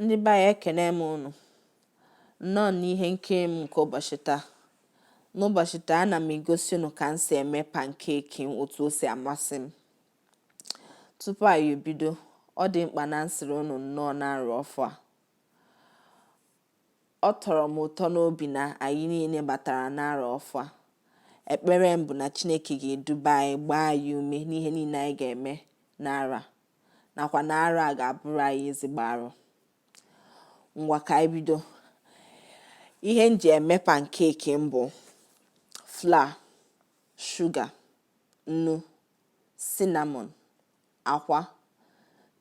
ndị be anyị ekene m unu nnọọ n'ihe nkiri m nke ụbọchị taa n'ụbọchị taa ana m egosi unu ka m si eme pankeki otu o si amasị m tupu anyị ebido ọ dị mkpa na m sịrị unu nnọọ n'arọ ọfụ a ọ tọrọ m ụtọ n'obi na anyị niile batara n'arọ ọfụ a ekpere m bụ na chineke ga-eduba anyị gbaa anyị ume n'ihe niile anyị ga-eme n'arọ a nakwa na arọ a ga-abụrụ anyị ezigbo arọ ngwa ka anyị bido ihe m ji eme pankeki m bụ fla shuga nnu sinamọn akwa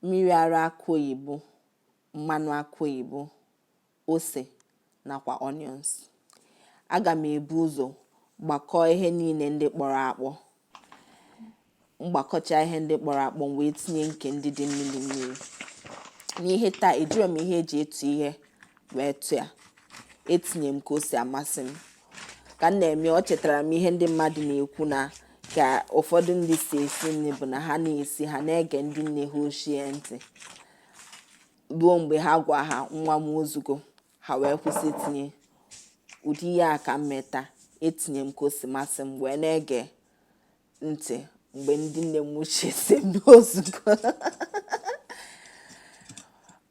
mmiri ara akụ oyibo mmanụ akụ oyibo ose nakwa onions. Aga m ebu ụzọ gbakọọ ihe niile ndị kpọrọ akpọ. M gbakọcha ihe ndị kpọrọ akpọ m wee tinye nke ndị dị mmiri mmiri. N'ihe taa ejirọ m ihe e ji atụ ihe wee tụọ ya. Etinye m ka o si amasị m. Ka m na-eme o chetara m ihe ndị mmadụ na-ekwu na ka ụfọdụ ndị si esi nri bụ na ha na-esi ha na-ege ndị nne ha ochie ntị. ruo mgbe ha gwa ha nwa m o zugo ha wee kwụsị itinye ụdị ihe a ka m me taa etinye m ka o si masị m wee na-ege ntị mgbe ndị nne m ochie sị m na o zugo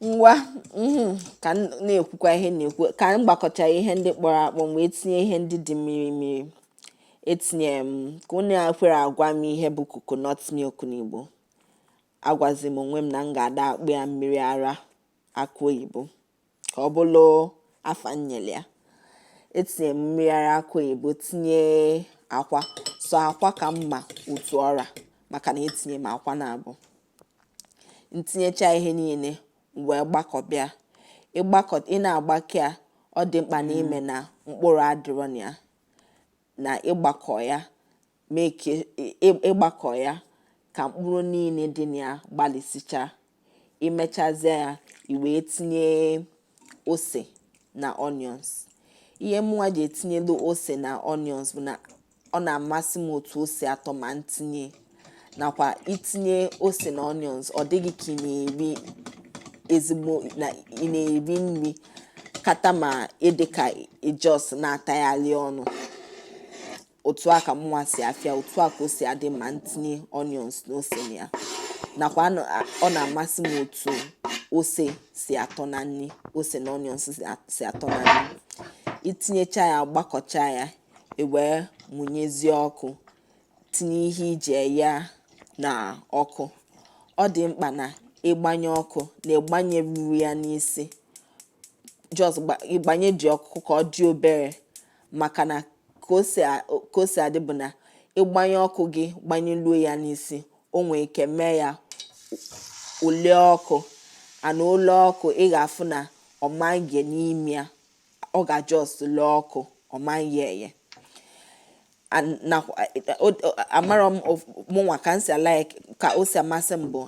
ngwa mhm, ka m na-ekwukwa ihe m na-ekwu ka m gbakọcha ihe ndị kpọrọ akpọ wee tinye ihe ndị dị mmiri mmiri etinye m ka unu ekwerọ agwa m ihe bụ coconut milk n'Igbo agwazi m onwe m na m ga-ada akpọ ya mmiri ara akụ oyibo ka ọ bụrụ afa m nyere ya etinye m mmiri ara akụ oyibo tinye akwa sọ akwa ka m ma otu ọ ra maka na etinye m akwa naabọ m tinyecha ihe niile wee gbakọba ya ị na-agbakọ ya ọ dị mkpa na i me na mkpụrụ adịrọ na ya na ị gbakọ ya mee ka ị gbakọ ya ka mkpụrụ niile dị na ya gbalisịchaa i mechazie ya i wee tinye ose na onions ihe mụnwa ji etinyelu ose na onions bụ na ọ na-amasị m otu o si atọ ma m tinye nakwa i tinye ose na onions ọ dị gị ka ị na-eri ezigbo na ị na-eri nri kata ma ịdị ka ị just na-atagharị ọnụ otu a ka mụnwa si afịa otu a ka o si adị ma m tinye onions na ose na ya nakwa ọ na-amasị m otu ose si atọ na nri ose na onions si atọ na nri itinyecha ya gbakọcha ya iwee mụnyezie ọkụ tinye ihe iji eye ya na ọkụ ọ dị mkpa na ịgbanye ọkụ na ịgbanyerurọ ya n'isi just ịgbanye ji ọkụ ka ọ dị obere maka na ka o si adị bụ na ịgbanye ọkụ gị gbanyeluo ya n'isi o nwee ike mee ya o lee ọkụ and o lee ọkụ ị ga-afụ na ọ ma-eghe n'ime ya ọ ga-just lee ọkụ ọ maghị eye amarọ m mụnwa ka m si ala ka o si amasị m bụ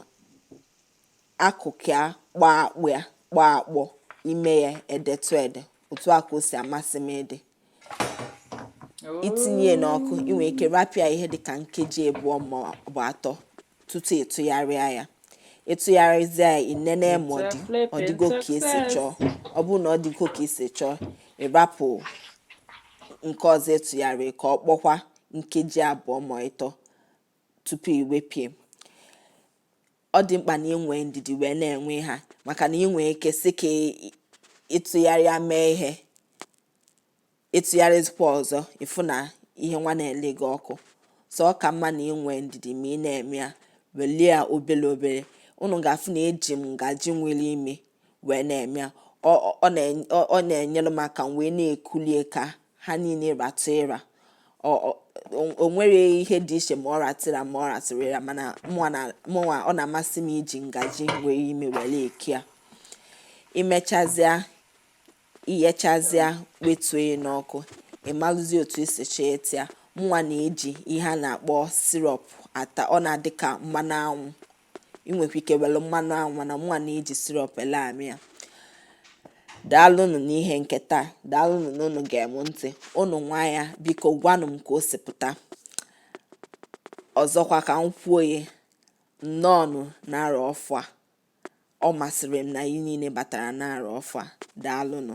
akụkụ ya kpọọ akpọ ime ya edetụ ede otu a ka o si amasị m ịdị itinye ya n'ọkụ ị nwere ike rapụ ya ihe dịka nkeji abụọ ma ọ bụ atọ tutu ịtụgharịa ya ịtụgharịzie ya inene ma ọ dị ọ dịgo ka esi chọọ ọ bụrụ na ọ dịgo ka esi chọọ ịrapụ nke ọzọ ịtụgharịrị ka ọ kpọkwa nkeji abụọ ma ịtọ tupu iwepụ ya ọ dị mkpa na ị nwee ndidi wee na-eghe ha maka na ị nwee ike sị ka ịtụgharịa mee ihe ịtụgharịzikwa ọzọ ịfụ na ihe nwa na-ele gị ọkụ so ọ ka mma na ị nwee ndidi ma ị na-eme ya welie ya obere obere unu ga-afụ na eji m ngaji nwere ime wee na-eme ya ọ na-enyere m aka wee na-ekulie ka ha niile ratụ ịra o nwerọ ihe dị iche ma ọ ratụ ịra ma ọ ratụrọ ịra mana mụnwa ọ na-amasị m iji ngaji nwere ime were eke ya imechazịa ighechazịa wetuo ya n'ọkụ ịmalụzi otu isi chọọ ịta ya mụnwa na-eji ihe a na-akpọ syrup ata ọ na-adị ka mmanụ anwụ ị nwekwa ike were mmanụ anwụ mana mụnwa na-eji syrup were amị ya daalụnụ n'ihe nke taa daalụnụ na unu gere m ntị unu nwaa ya biko gwanụ m ka o si pụta ọzọkwa ka m kwuo ya nnọọnụ n'arọ ọfụụ a ọ masịrị m na anyị niile batara n'arọ ọfụụ a daalụnụ